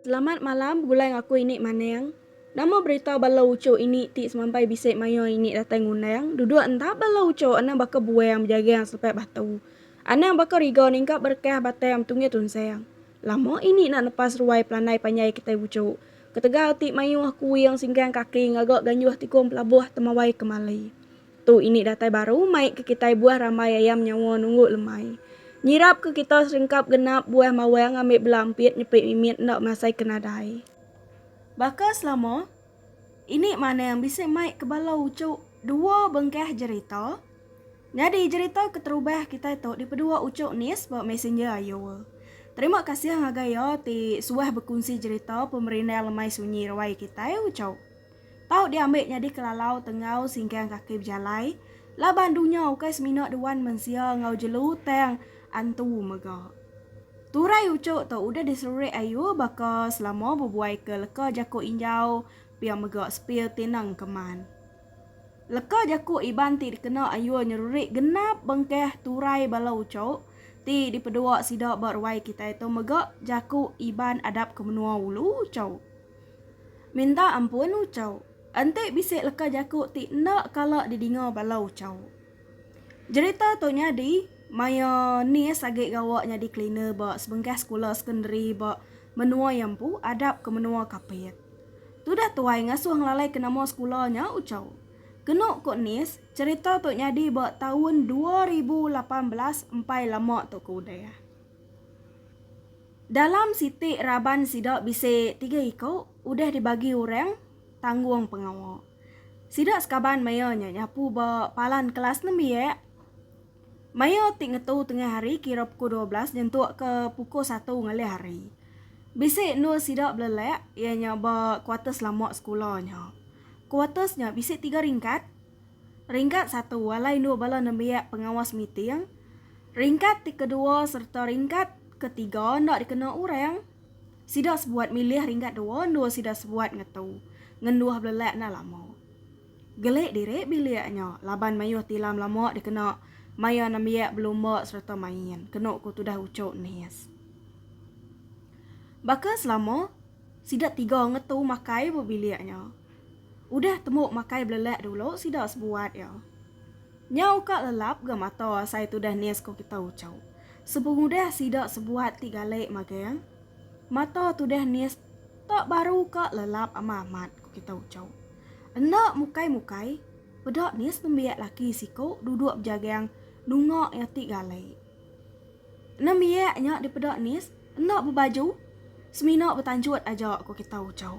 Selamat malam begulai enggau aku ini maneng. Nama berita bala uchu ini ti semampai bisi mayuh ini datai ngundang duduk enda bala uchu anang baka buang bejagang selepai batu. Anang baka riga ningkap berekah batai am tunggih tunsang. Lama ini enda nepas ruai pelandai panjai kitai uchu. Ketegal ti mayuh kuing singkang kaki ngaga ganjuh tikung pelabuh temawai kemali. Tu ini datai baru mai ke kitai buah rambai ayam nyawa nunggu lemai. Nyirap ke kita seringkap genap buah mawang ambi bela ampit nyepi mimit enda masai ke nadai. Baka selama, ini manang bisi mai ke bala uchu dua bengkah jerita. Nyadi jerita keterubah kitai tu dipedua uchu Nis ba Messenger ayo. Terima kasih ngagai iya ti suah bekunsi jerita pemerindang lemai sunyi ruai kitai uchu. Tau diambi nyadi kelalau tenggau singkang kaki bejalai laban dunya ukai semina duan mensia enggau jelu tang antu mega. Turai uchu tu udah diselurik ayu baka selama bebuaika leka jaku injau pia mega sepil tineng keman. Leka jaku Iban ti dikena ayu nyelurik genap bengkah turai bala uchu ti dipedua sida ba ruai kitai tu mega jaku Iban adap ke menua ulu uchu. Minta ampun ucau. Enti bisi leka jaku ti enda kala didinga bala ucau. Jerita tu nyadi maya Nis agi gawa nyadi cleaner ba sebengkah sekula sekondari ba menua iya empu adap ke menua Kapit. Tudah tuai ngasuh ngelalaika nama sekula nya ucau. Kenu ku Nis, cherita tu nyadi ba taun dua ribu lapan belas empai lama tu ke udah. Dalam siti raban sida bisi tiga iku udah dibagi orang tanggung pengawa. Sida sekaban maya nya nyapu ba palan kelas nembiak maya ti ngetu tengah hari kira pukul dua belas nyentuk ke pukul satu ngelih hari. Bisi endur sida belelak iya nya ba kuarters lama sekula nya. Kuarters nya bisi tiga ringkat. Ringkat satu alai endur bala nembiak pengawas meeting, ringkat ti kedua sereta ringkat ke tiga enda dikena orang. Sida sebuat milih ringkat dua endur sida sebuat ngetu ngenduh belelak enda lama. Gelik diri bilik nya laban mayuh tilam lama dikena maya nembiak belumba sereta main, kenu ku tudah Uchok Nis. Baka selama, sida tiga ngetu makai ba bilik nya. Udah temu makai belelak dulu sida sebuat iya. Nyau ka lelap ga mata asai tudah nis ko kita ucau. Sepengudah sida sebuat ti galik magang, mata tudah nis tak baru ka lelap ama amat ko kita ucau. Enda mukai mukai peda nis nembiak laki siko duduk bejagang nunga iya ti galik. Nembiak nya dipeda nis enda bebaju semina betanjut aja ko kita ucau.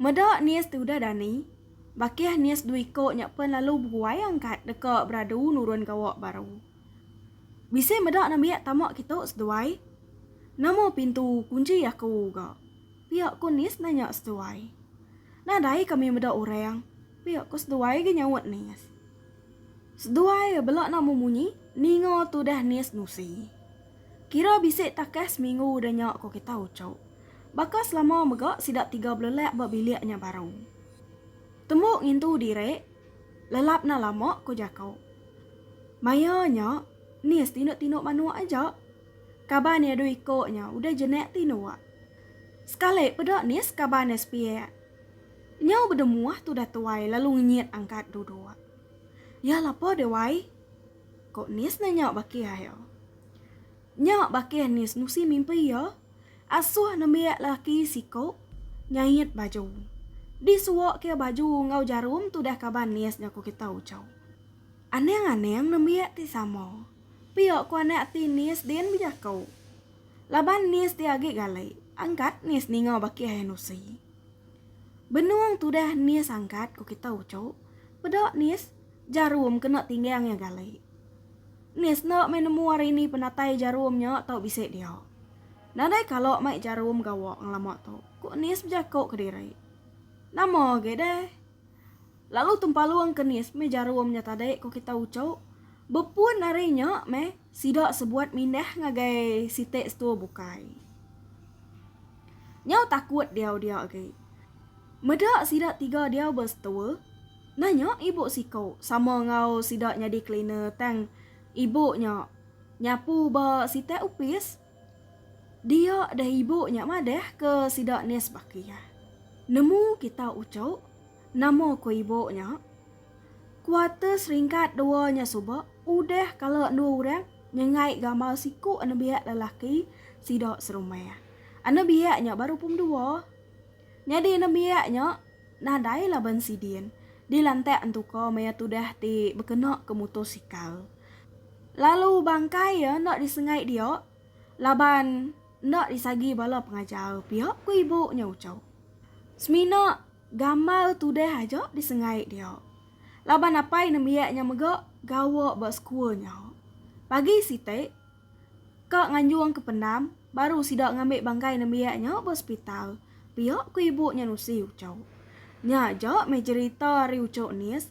Meda nies ti udah dani, bakih nies dua iko nya pen lalu beguai angkat deka beradu nurun gawa baru. Bisi meda nembiak tama kitu seduai? Nama pintu kunchi aku ga? pia ko nies nanya seduai. Nadai kami meda orang, pia ko seduai ga nyaut nies. Seduai bela nama munyi ninga tudah nies nusi. Kira bisi takah seminggu udah nya ko kita uchup. Baka selama mega sida tiga belelak ba bilik nya baru. Tembu ngintu diri lelap enda lama ko jako. Maya nya ni setinduk-tinduk manuk aja. Kaban iya dua iko nya udah jenak tinduk. Sekali peda nis kaban iya sepiak. Nyau bedemuh tudah tuai lalu ngenyit angkat duduk. Ya lapa deh wai. Ko Nis nanya Bakih ayo. Nya Bakih Nis nusi mimpi iya asuh nembiak lelaki siko nyait baju. Di suok ke baju enggau jarum tudah kaban Nis jaku kita ucau. Anang anang nembiak ti sama. Pia ko anak ti Nis din bejaku. Laban Nis ti agi gali, angkat Nis ninga Bakih ayo nusi. Benung tudah nis angkat ku kita uchu, peda nis jarum kena tinggang iya gali. Nis enda meh nemu hari ni penatai jarum nya tau bisi dia. Nadai kala mai jarum gawa ngelama tu, ku nis bejaku kediri. Nama agi deh. Lalu tempalung ke nis meh jarum nya tadi ko kita uco. Bepun ari nya meh sida sebuat mindah ngagai siti setua bukai. Nyau takut diau dia agi. Meda sida tiga diau ba setua, nanya ibu siko sama enggau sida nyadi cleaner tang ibu nya nyapu ba siti opis. Dia deh ibu nya madah ke sida Nes baki iya. Nemu kita uchu? Nama ko ibu nya? Quarter seringkat dua nya suba udah kala endu urang nyengai gamal siku anebiak lelaki sida serumah. Anebiak nya baru pum dua. Nyadi nembiak nya nadai laban sidin dilantak entuka maya tudah ti bekena ke mutosikal. Lalu bangkai iya enda disengai dia laban enda disagi bala pengajar pia, ku ibu nya uchau. Semina gamal tudah aja disengai dia laban apai nembiak nya mega gawa ba sekul nya pagi siti. Ka nganjung ke pendam, baru sida ngambi bangkai nembiak nya ba sepital, pia ku ibu nya nusi Ucok. Nya aja meh jerita ari Ucok Nis,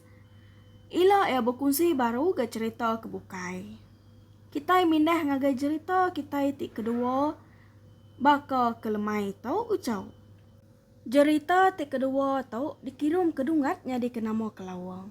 ila iya bekunsi baru ga cherita ke bukai. Kitai mindah ngagai jerita kitai ti kedua baka ke lemai tu, Ucok. Jerita ti kedua tu dikirum ke Dungat nyadi ke nama Kelawang.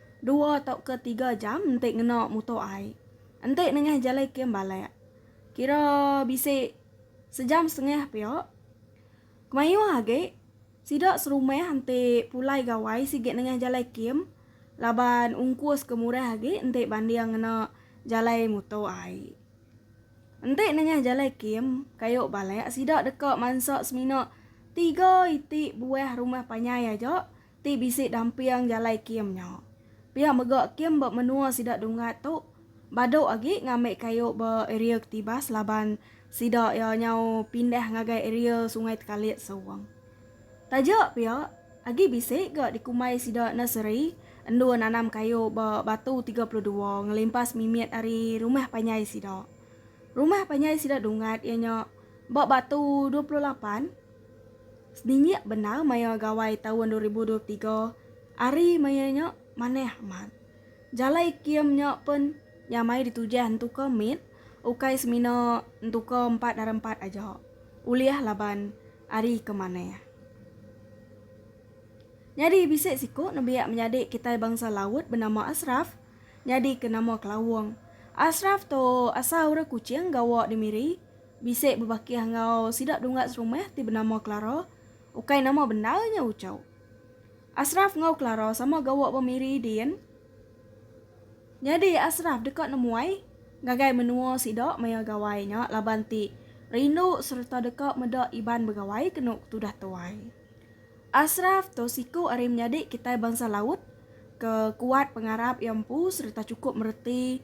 Dua tauka tiga jam enti ngena muto ai. Enti nengah jalai kem balak. Kira bisi sejam setengah pia. Kemayuh agi, sida serumah enti pulai gawai sigi nengah jalai kem laban ungkus ke murah agi enti banding ngena jalai muto ai. Enti nengah jalai kem kayu balak sida deka mansa semina tiga iti buah rumah panjai aja Ti bisi damping jalai kem nya. Pia mega kem ba menua sida Dungat tu badu agi ngambi kayu ba area Ketibas laban sida iya nyau pindah ngagai area Sungai Tekalit Sewong. Taja pia, agi bisi ga dikumbai sida nursery endur nanam kayu ba Batu tiga puluh dua ngelimpas mimit ari rumah panjai sida. Rumah panjai sida Dungat iya nya ba Batu dua puluh lapan. Seninyik bendar maya Gawai taun dua ribu dua tiga ari maya nya manah amat. Jalai kium nya pen nya mai ditujah entuka mit ukai semina entuka empat dara empat aja ulih laban ari ke manah. Nyadi bisi siku nembiak menyadi kitai bangsa laut benama Ashraf nyadi ke nama Kelawong. Ashraf tu asal orang Kuching gawa di Miri, Bisi bebakih enggau sida dungga serumah ti benama Clara, ukai nama bendar nya Uchau. Ashraf enggau Clara sama gawa ba Miri din. Nyadi Ashraf deka nemuai ngagai menua sida maya gawai nya laban ti rindu sereta deka meda Iban begawai kenu ke tudah tuai. Ashraf tu siku ari menyadi kitai bansa laut ke kuat pengarap iya empu sereta chukup mereti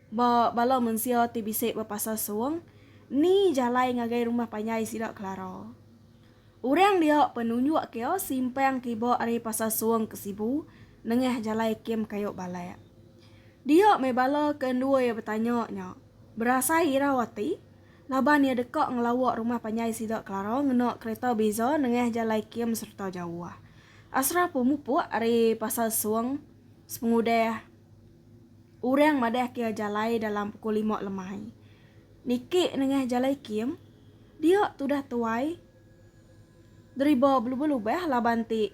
Ba bala mensia ti bisi bepasal Sung, ni jalai ngagai rumah panjai sida Klara? Orang dia penunjuk ke simpang kiba ari Pasal Sung ke Sibu nengah jalai Kem Kayu Balak. Dia meh bala ke endur betanya nya berasai irau ati laban iya deka ngelawa rumah panjai sida Klara ngena kereta beza nengah jalai kem sereta jauh. Asrah pemupuk ari Pasal Sung sepengudah. Urang madah kia jalai dalam pukul lima lemai. Niki nengah jalai kim, dia tudah tuai deriba belubah-lubah laban ti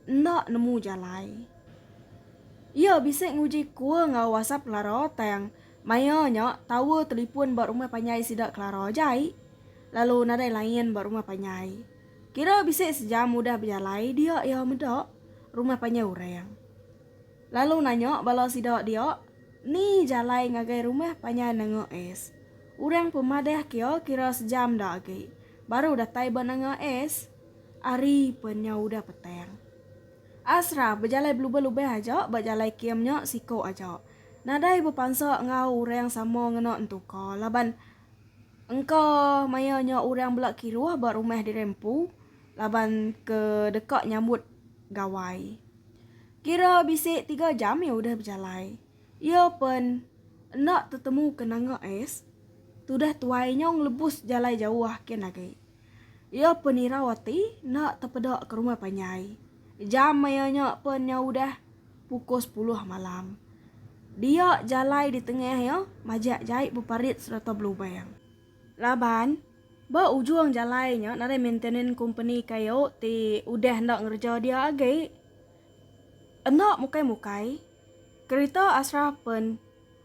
enda nemu jalai. Iya bisi nguji kua enggau wasap Kelara tang maya nya tower telipun ba rumah panjai sida Kelara jai lalu nadai line ba rumah panjai. Kira bisi sejam udah bejalai dia iya meda rumah panjai urang. Lalu nanya bala sida dia, Ni jalai ngagai rumah panjai nanga es? Orang pemadah kia kira sejam da agi, baru datai ba nanga es? Ari pan nya udah petang. Asrah bejalai belubah-lubah aja ba jalai kem nya siko aja. Nadai bepansa enggau orang sama ngena entu ka laban engka maya nya orang bela kiruh ba rumah diri empu laban ke deka nyambut gawai. Kira bisi tiga jam iya udah bejalai. Iya pen enda tetemu ke nanga ais tudah tuai nyong lebus jalai jauh kin agi. Iya pen irau ati enda tepeda ke rumah panjai. Jam maya nya pen nya udah pukul sepuluh malam. Dia jalai ditengah iya majak jai beparit sereta belubang. Laban, ba ujung jalai nya nadai maintenance kompeni kayu ti udah enda ngereja dia agi. Enda mukai-mukai, kerita Ashraf pen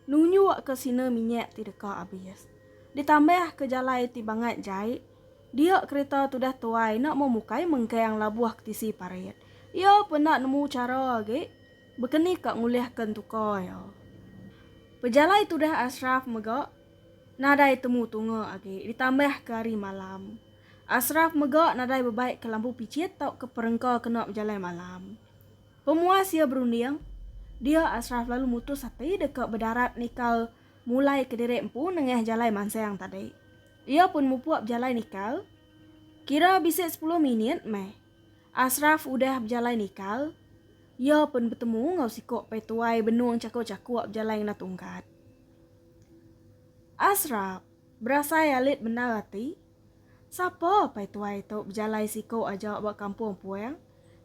nunjukka sina minyak ti deka abis. Ditambahka jalai ti bangat jai, dia kerita tudah tuai enda mau mukai mengkang labuh ke tisi parit. Iya pun enda nemu chara agi bekenika ngulihka entuka iya. Pejalai tudah Ashraf mega. Nadai temu tunga agi ditambah ke hari malam. Ashraf mega nadai bebai ke lampu pichit tauka perengka kena bejalai malam. Pemuas iya berunding, dia Ashraf lalu mutus ati deka bedarat nikal mulai kediri empu nengah jalai mansang tadi. Iya pun mupuk bejalai nikal. Kira bisi sepuluh minit meh Ashraf udah bejalai nikal, iya pun betemu enggau siku petuai benung chakuk-chakuk bejalai ngena tungkat. Ashraf, berasai alit bendar ati. Sapa pai tuai tu bejalai siku aja ba kampung puang,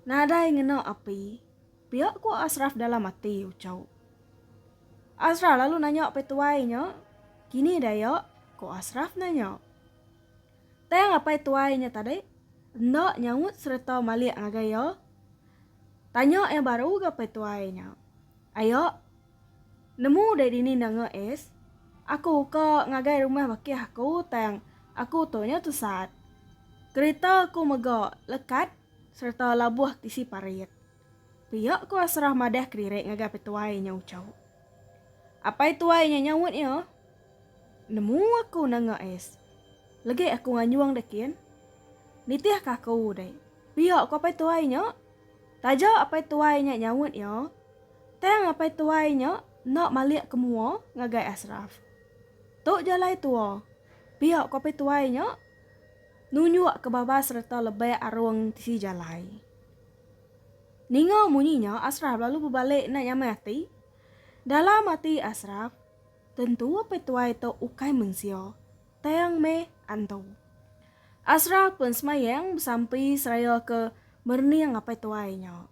nadai ngena api, pia ku Ashraf dalam ati uchu. Ashraf lalu nanya pai tuai nya, kini daya? ku Ashraf nanya. Tang apai tuai nya tadi enda nyaut sereta malik ngagai iya. Tanya iya baru ga pai tuai nya. Aya. Nemu udah dini nanga es. Aku ka ngagai rumah bakih aku tang aku tu nya tusat. Kerita aku mega lekat sereta labuh tisi parit. Pia ku Asrah madah kediri ngagai petuai nya uchu. Apai tuai nya nyaut iya, Nemu aku nanga es. Legi aku nganjung deh kin. Nitih ka aku deh. Pia ku apai tuai nya. Taja apai tuai nya nyaut iya, tang apai tuai nya enda malik ke mua ngagai Ashraf. Tu jalai tua, pia ku apai tuai nya nunjuk ke babas sereta lebih arung tisi jalai. Ninga munyi nya Ashraf lalu bebalik enda nyamai ati. Dalam ati Ashraf, tentu apai tuai tu ukai mensia. tang meh antu. Asra pun semayang besampi seraya ke merening apai tuai nya.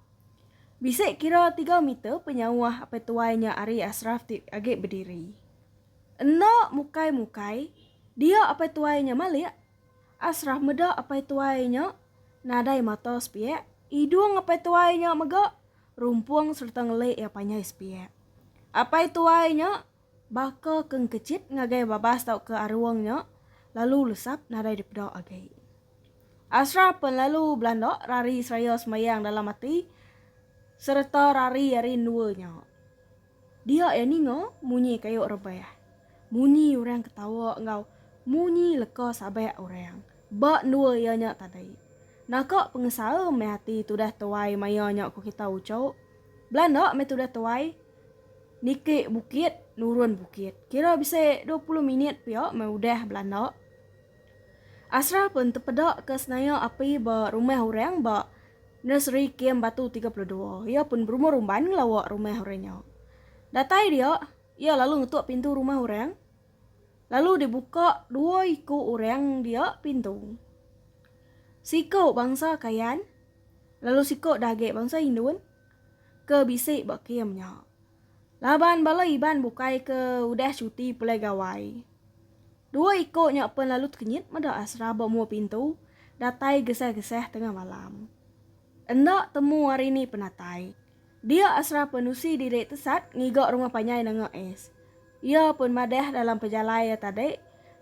Bisi kira tiga meter penyauh apai tuai nya ari Asraf ti agi bediri. Enda mukai-mukai dia apai tuai nya malik, Asraf meda apai tuai nya nadai mata sepiak, idung apai tuai nya mega rumpung sereta ngelik iya panjai sepiak. Apai tuai nya. Baka ke engkejit ngagai babas tauka arung nya lalu lesap nadai dipeda agi. Asra pen lalu belanda rari seraya sembayang dalam ati sereta rari ari endua nya. Dia iya ninga munyi kayu rebah, munyi orang ketawa enggau munyi leka sabak orang ba endua iya nya tadi. Naka pengesaha meh ati tudah tuai maya nya ku kita uchu. Belanda meh tudah tuai. Niki bukit, nurun bukit. Kira bisi dua puluh minit pia meh udah belanda. Asrah pun tepeda ke senaya api ba rumah orang ba Nursery Kem Batu tiga puluh dua. Iya pun berumah rumban ngelawa rumah orang nya. Datai dia, iya lalu ngetuk pintu rumah orang. Lalu dibuka dua iku orang dia pintu. Siku bangsa Kayan, lalu siku dah agi bangsa Indun, ke bisi ba kem nya. Laban bala Iban bukai ke udah cuti pulai gawai. Dua iko nya pen lalu tekenyit meda Asra ba mua pintu datai gesah-gesah tengah malam. Enda temu ari ni penatai. Dia Asra pen usi diri tesat ngiga rumah panjai nanga es. Iya pen madah dalam pejalai iya tadi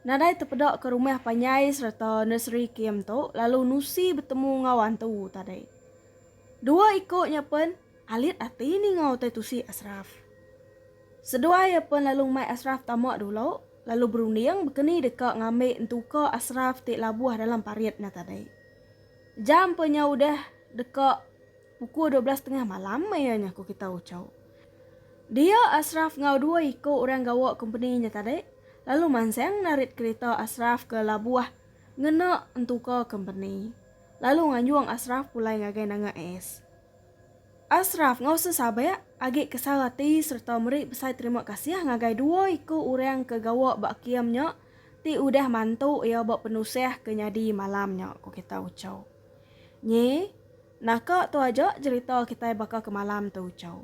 nadai tepeda ke rumah panjai sereta nursery kem tu lalu nusi betemu enggau antu tadi. Dua iko nya pen alit ati ninga utai tusi Ashraf. Seduai iya pen lalu mai Ashraf tama dulu lalu berunding bekeni deka ngambi entuka Ashraf ti labuh dalam parit nya tadi. Jam pen nya udah deka pukul dua belas tengah malam iya nya ku kita uchu. Dia Ashraf enggau dua iko orang gawa kompeni nya tadi lalu mansang narit kerita Ashraf ke labuh ngena entuka kompeni. lalu nganjung Ashraf pulai ngagai nanga AS. Ashraf enggau sesabak agi kesal ati sereta meri besai terima kasih ngagai dua iku orang ke gawa ba kem nya ti udah mantu iya ba penusah ke nyadi malam nya, ku kita uchau. Nyi, naka tu aja jerita kitai baka ke malam tu, uchau.